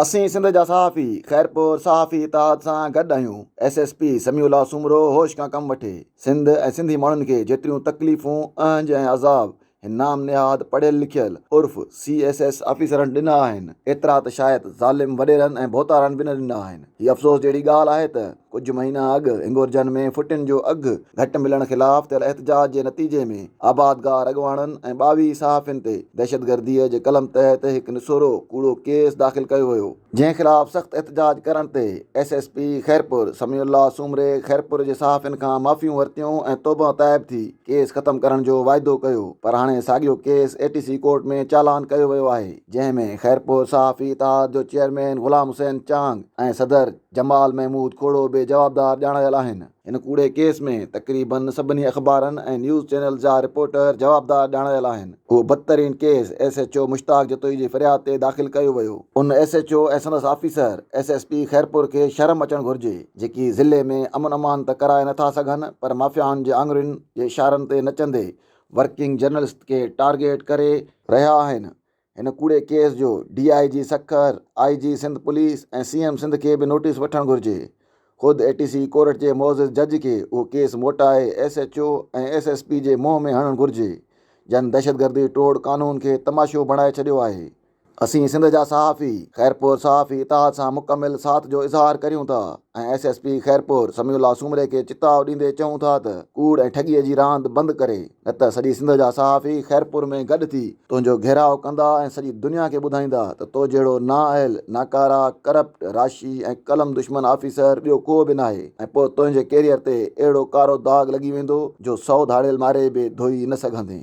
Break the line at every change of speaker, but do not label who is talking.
اسين سنڌ جا صحافي خيرپور صحافي اتحاد سان گڏ آهيون، S S P Samiullah Soomro هوش کان ڪم وٺي، سنڌ ۽ سنڌي ماڻهن کي جيتريون تڪليفون، اهنج ۽ عذاب هن نام نهاد پڙهيل لکيل عرف سي ايس ايس آفيسرن ڏنا آهن، ايترا ته شايد ظالم وڏيرن ۽ ڀوتارن به نه ڏنا آهن، هي افسوس جهڙي ڳالهه آهي ته. ڪجهه مهينا اڳ هنگورجن ۾ ڦٽين جو اگهه گهٽ ملڻ خلاف ٿيل احتجاج جي نتيجي ۾ آبادگار اڳواڻن ۽ ٻاويهه صحافين تي دهشتگردي جي قلم تحت هڪ نسورو ڪوڙو ڪيس داخل ڪيو ويو جنهن خلاف سخت احتجاج ڪرڻ تي S S P Khairpur Sami الله سومري خيرپور جي صحافين کان معافيون ورتيون ۽ توبه تائب ٿي ڪيس ختم ڪرڻ جو واعدو ڪيو پر هاڻي ساڳيو case A T C court ۾ چالان ڪيو ويو آهي جنهن ۾ خيرپور صحافي اتحاد جو چيئرمين غلام حسين چانگ ۽ صدر جمال محمود کوڙو به جوابدار ڄاڻايل آهن. هن ڪوڙي ڪيس ۾ تقريباً سڀني اخبارن ۽ نيوز چينلز جا رپورٽر جوابدار ڄاڻايل آهن. اهو بدترين case S H O Mushtaq Jatoi جي فرياد تي داخل ڪيو ويو. ان ايس ايڇ او ۽ سندس officer S S P Khairpur کي شرم اچڻ گهرجي جيڪي ضلعي ۾ امن امان ته ڪرائي نٿا سگهن پر مافيائن جي آڱرين جي اشارن تي نچندي ورڪنگ جرنلسٽ کي ٽارگيٽ ڪري رهيا آهن هن ڪوڙي ڪيس جو D I G Sukkur, I G Sindh police ۽ C M Sindh کي به نوٽيس وٺڻ گهرجي. خود اي ٽي سي ڪورٽ جي معزز جج کي اهو ڪيس موٽائي S H O ۽ S S P جي منهن ۾ هڻڻ گهرجي جن دهشتگردي ٽوڙ قانون کي تماشو بڻائي ڇڏيو آهي. اسين سنڌ جا صحافي خيرپور صحافي اتحاد سان مڪمل ساٿ جو اظهار ڪريون ٿا ۽ S S P Khairpur Sami الله سومري کي چتاء ڏيندي چئون ٿا ته ڪوڙ ۽ ٺڳي جي راند بند ڪري نه ته سڄي سنڌ جا صحافي خيرپور ۾ گڏ ٿي تنهنجو گهيراء ڪندا ۽ سڄي دنيا کي ٻڌائيندا ته تو جهڙو نااهل، ناڪاره، ڪرپٽ، راشي ۽ قلم دشمن آفيسر ٻيو ڪو به ناهي ۽ پوء تنهنجي ڪيريئر تي اهڙو ڪارو داغ لڳي ويندو جو سئو ڌاڙيل ماري به ڌوئي نه سگهندين.